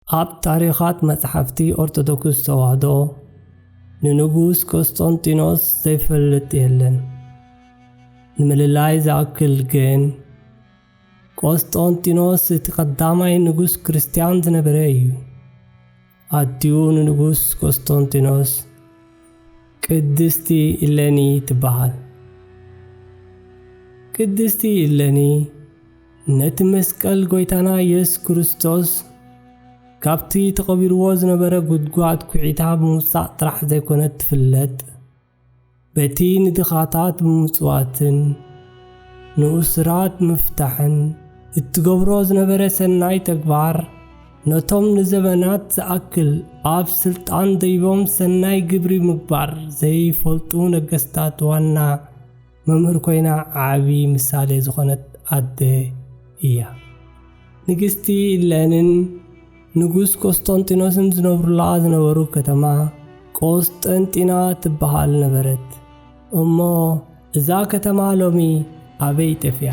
ኣብ ታሪኻት መጽሓፍቲ ኦርቶዶክስ ተዋህዶ ንንጉስ ቆስጦንጢኖስ ዘይፈልጥ የለን። ንምልላይ ዝኣክል ግን ቆስጦንጢኖስ እቲ ቀዳማይ ንጉስ ክርስትያን ዝነበረ እዩ። ኣዲኡ ንንጉስ ቆስጦንጢኖስ ቅድስቲ ኢለኒ ትበሃል። ቅድስቲ ኢለኒ ነቲ መስቀል ጐይታና ኢየሱስ ክርስቶስ ካብቲ ተቐቢርዎ ዝነበረ ጉድጓድ ኩዒታ ብምውጻእ ጥራሕ ዘይኮነት ትፍለጥ በቲ ንድኻታት ብምጽዋትን ንኡስራት ምፍታሕን እትገብሮ ዝነበረ ሰናይ ተግባር ነቶም ንዘበናት ዝኣክል ኣብ ስልጣን ደይቦም ሰናይ ግብሪ ምግባር ዘይፈልጡ ነገስታት ዋና መምህር ኮይና ዓቢ ምሳሌ ዝኾነት ኣደ እያ። ንግስቲ ኢለንን ንጉስ ቆስጠንጢኖስን ዝነብሩላ ዝነበሩ ከተማ ቆስጠንጢና ትበሃል ነበረት። እሞ እዛ ከተማ ሎሚ ኣበይ ጠፊኣ?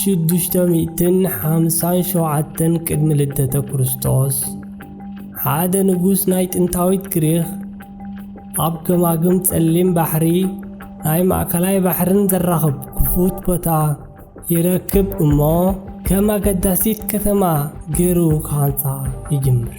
ሽዱሽተ ሚእትን ሓምሳን ሸውዓተን ቅድሚ ልደተ ክርስቶስ ሓደ ንጉስ ናይ ጥንታዊት ግሪኽ ኣብ ገማግም ጸሊም ባሕሪ ናይ ማእከላይ ባሕርን ዘራኽብ ክፉት ቦታ ይረክብ እሞ ከም ኣገዳሲት ከተማ ገይሩ ክሃንጻ ይጅምር።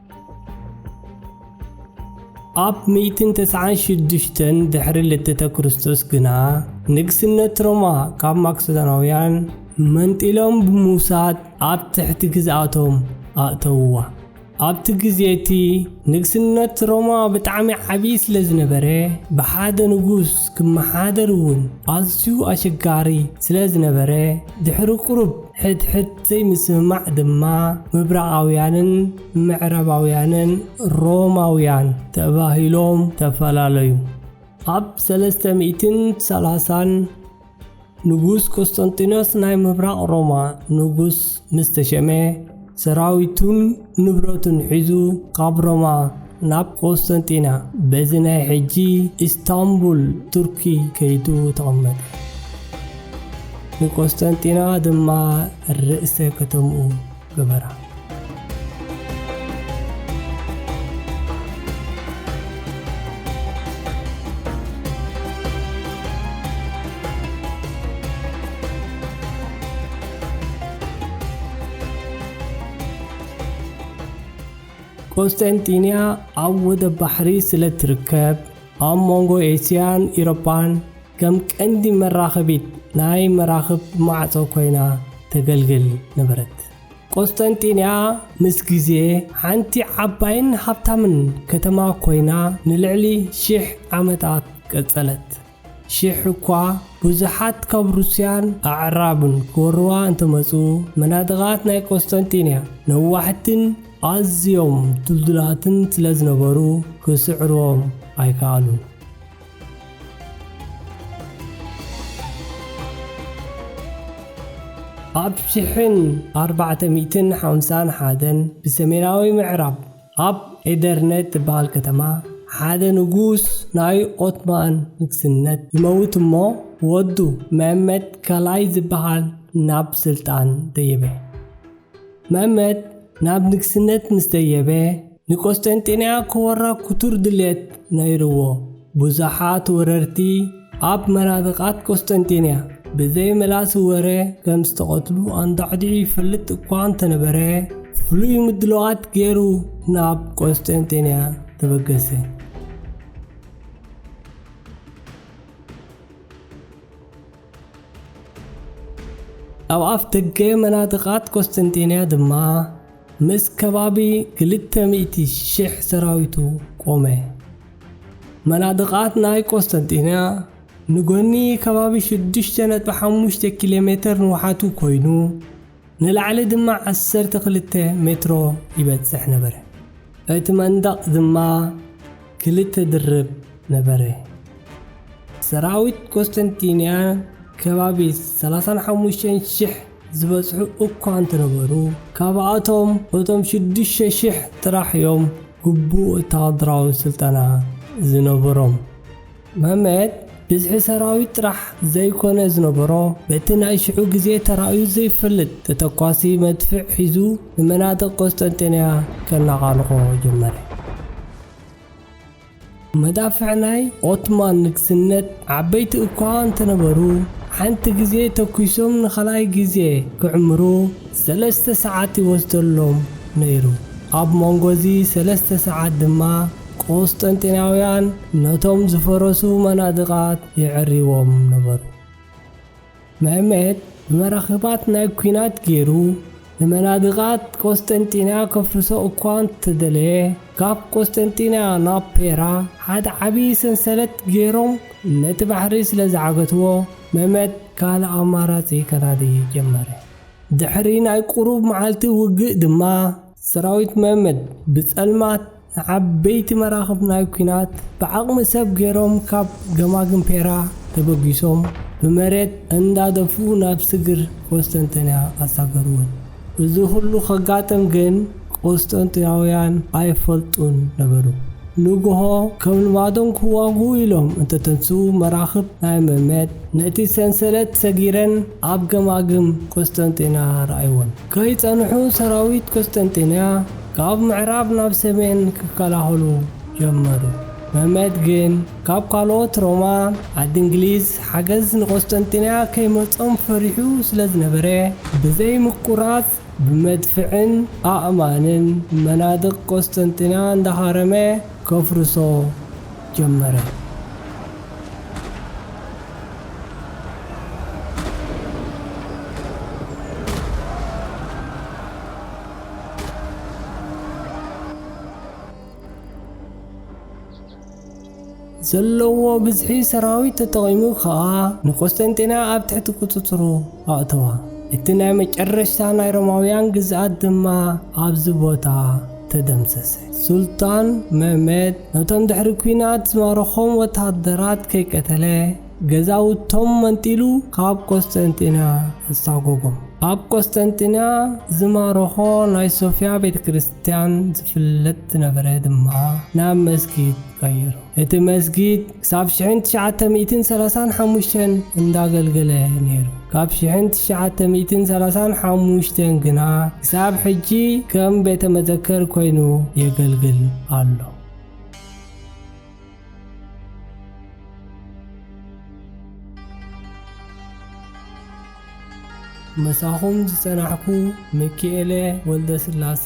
ኣብ ሚእትን ተስዓን ሽዱሽተን ድሕሪ ልደተ ክርስቶስ ግና ንግስነት ሮማ ካብ ማክሰዳናውያን መንጢሎም ብምውሳድ ኣብ ትሕቲ ግዝኣቶም ኣእተውዋ ኣብቲ ግዜ እቲ ንግስነት ሮማ ብጣዕሚ ዓብዪ ስለ ዝነበረ ብሓደ ንጉስ ክመሓደር እውን ኣዝዩ ኣሸጋሪ ስለ ዝነበረ ድሕሪ ቁሩብ ሕድሕድ ዘይምስምማዕ ድማ ምብራቓውያንን ምዕረባውያንን ሮማውያን ተባሂሎም ተፈላለዩ። ኣብ ሰለስተ ሚእትን ሰላሳን ንጉስ ቆስጠንጢኖስ ናይ ምብራቕ ሮማ ንጉስ ምስ ተሸመ፣ ሰራዊቱን ንብረቱን ሒዙ ካብ ሮማ ናብ ቆስጠንጢና በዚ ናይ ሕጂ ኢስታንቡል ቱርኪ ከይዱ ተቐመጠ። ንቆስጠንጢና ድማ ርእሰ ከተምኡ ገበራ። ቆስጠንጢንያ ኣብ ወደብ ባሕሪ ስለ እትርከብ፣ ኣብ መንጎ ኤስያን ኢሮጳን ከም ቀንዲ መራኸቢት ናይ መራኽብ ማዕጾ ኮይና ተገልግል ነበረት። ቆስጠንጢንያ ምስ ግዜ ሓንቲ ዓባይን ሃብታምን ከተማ ኮይና ንልዕሊ ሽሕ ዓመታት ቀጸለት። ሽሕ እኳ ብዙሓት ካብ ሩስያን ኣዕራብን ክወርዋ እንተመጹ፣ መናድቓት ናይ ቈስጠንጢንያ ነዋሕትን ኣዝዮም ድልዱላትን ስለ ዝነበሩ ክስዕርዎም ኣይከኣሉን። ኣብ ሽሕን ኣርባዕተ ሚእትን ሓምሳን ሓደን ብሰሜናዊ ምዕራብ፣ ኣብ ኤደርነ እትበሃል ከተማ ሓደ ንጉስ ናይ ኦትማን ንግስነት ይመውት እሞ ወዱ መእመት ካልኣይ ዝበሃል ናብ ስልጣን ደየበ። መእመት ናብ ንግስነት ምስ ደየበ ንቆስጠንጢንያ ክወራ ክቱር ድልየት ነይርዎ። ብዙሓት ወረርቲ ኣብ መናድቓት ቁስጥንጢንያ ብዘይ መላሲ ወረ ከም ዝተቐትሉ ኣንዳዕዲዑ ይፈልጥ እኳ እንተነበረ ፍሉይ ምድለዋት ገይሩ ናብ ቆስጠንጤንያ ተበገሰ። ኣብ ኣፍ ደገ መናድቓት ቆስጠንጤንያ ድማ ምስ ከባቢ ክልተ ሚእቲ ሽሕ ሰራዊቱ ቆመ። መናድቓት ናይ ቆስጠንጢንያ ንጎኒ ከባቢ ሽዱሽተ ነጥቢ ሓሙሽተ ኪሎ ሜተር ንውሓቱ ኮይኑ፣ ንላዕሊ ድማ ዓሰርተ ክልተ ሜትሮ ይበጽሕ ነበረ። እቲ መንደቕ ድማ ክልተ ድርብ ነበረ። ሰራዊት ቆስጠንጢንያ ከባቢ ሰላሳን ሓሙሽተን ሽሕ ዝበጽሑ እኳ እንተነበሩ፣ ካብኣቶም እቶም ሽዱሽተ ሽሕ ጥራሕ እዮም ግቡእ ወተሃደራዊ ስልጠና ዝነበሮም። መህመት ብዝሒ ሰራዊት ጥራሕ ዘይኮነ ዝነበሮ፣ በቲ ናይ ሽዑ ግዜ ተራእዩ ዘይፈልጥ ተተኳሲ መድፍዕ ሒዙ ንመናድቕ ቆስጠንጢንያ ከነቓንቖ ጀመረ። መዳፍዕ ናይ ኦትማን ንግስነት ዓበይቲ እኳ እንተነበሩ፣ ሓንቲ ግዜ ተኲሶም ንኻልኣይ ግዜ ክዕምሩ ሰለስተ ሰዓት ይወስደሎም ነይሩ። ኣብ መንጎ እዚ ሰለስተ ሰዓት ድማ ቁስጠንጢናውያን ነቶም ዝፈረሱ መናድቓት የዐርይዎም ነበሩ። መሕመድ ብመራኽባት ናይ ኲናት ገይሩ ንመናድቓት ቆስጠንጢንያ ከፍርሶ እኳ እንተደለየ፣ ካብ ቆስጠንጢንያ ናብ ፔራ ሓደ ዓቢ ሰንሰለት ገይሮም ነቲ ባሕሪ ስለ ዝዓገትዎ፣ መሕመድ ካልእ ኣማራጺ ከናዲ ጀመረ። ድሕሪ ናይ ቁሩብ መዓልቲ ውግእ ድማ ሰራዊት መሕመድ ብጸልማት፣ ንዓበይቲ መራኽብ ናይ ኲናት ብዓቕሚ ሰብ ገይሮም ካብ ገማግም ፔራ ተበጊሶም ብመሬት እንዳደፍኡ ናብ ስግር ቆስጠንጥንያ ኣሳገርወን። እዚ ኹሉ ከጋጥም ግን ቆስጠንጥንያውያን ኣይፈልጡን ነበሩ። ንጉሆ ከም ልማዶም ክዋግኡ ኢሎም እንተተንስኡ መራኽብ ናይ መመት ነቲ ሰንሰለት ሰጊረን ኣብ ገማግም ቆስጠንጥንያ ረኣይወን። ከይጸንሑ ሰራዊት ቍስጥንጥንያ ካብ ምዕራብ ናብ ሰሜን ክከላኸሉ ጀመሩ። መመት ግን ካብ ካልኦት ሮማ፣ ዓዲ እንግሊዝ፣ ሓገዝ ንቍስጥንጥንያ ከይመጾም ፈሪሑ ስለ ዝነበረ፣ ብዘይ ምቍራጽ ብመድፍዕን ኣእማንን መናድቕ ቍስጥንጥንያ እንዳሃረመ ከፍርሶ ጀመረ። ዘለዎ ብዝሒ ሰራዊት ተጠቒሙ ከዓ ንቆስጠንጢና ኣብ ትሕቲ ቁፅፅሩ ኣእተዋ። እቲ ናይ መጨረሽታ ናይ ሮማውያን ግዝኣት ድማ ኣብዚ ቦታ ተደምሰሰ። ሱልጣን መህመት ነቶም ድሕሪ ኲናት ዝማረኾም ወተሃደራት ከይቀተለ፣ ገዛውቶም መንጢሉ ካብ ቈስጠንጢንያ ኣሳጐጎም። ኣብ ቈስጠንጢንያ ዝማረኾ ናይ ሶፍያ ቤተ ክርስትያን ዝፍለጥ ዝነበረ ድማ ናብ መስጊድ ቀየሮ። እቲ መስጊድ ክሳብ ሽሕን ትሽዓተ ሚእትን ሰላሳን ሓሙሽተን እንዳገልገለ ነይሩ። ካብ ሽሕን ትሽዓተ ሚእትን ሰላሳን ሓሙሽተን ግና ክሳብ ሕጂ ከም ቤተ መዘከር ኮይኑ የገልግል ኣሎ። ምሳኹም ዝጸናሕኩ ሚኪኤለ ወልደስላሰ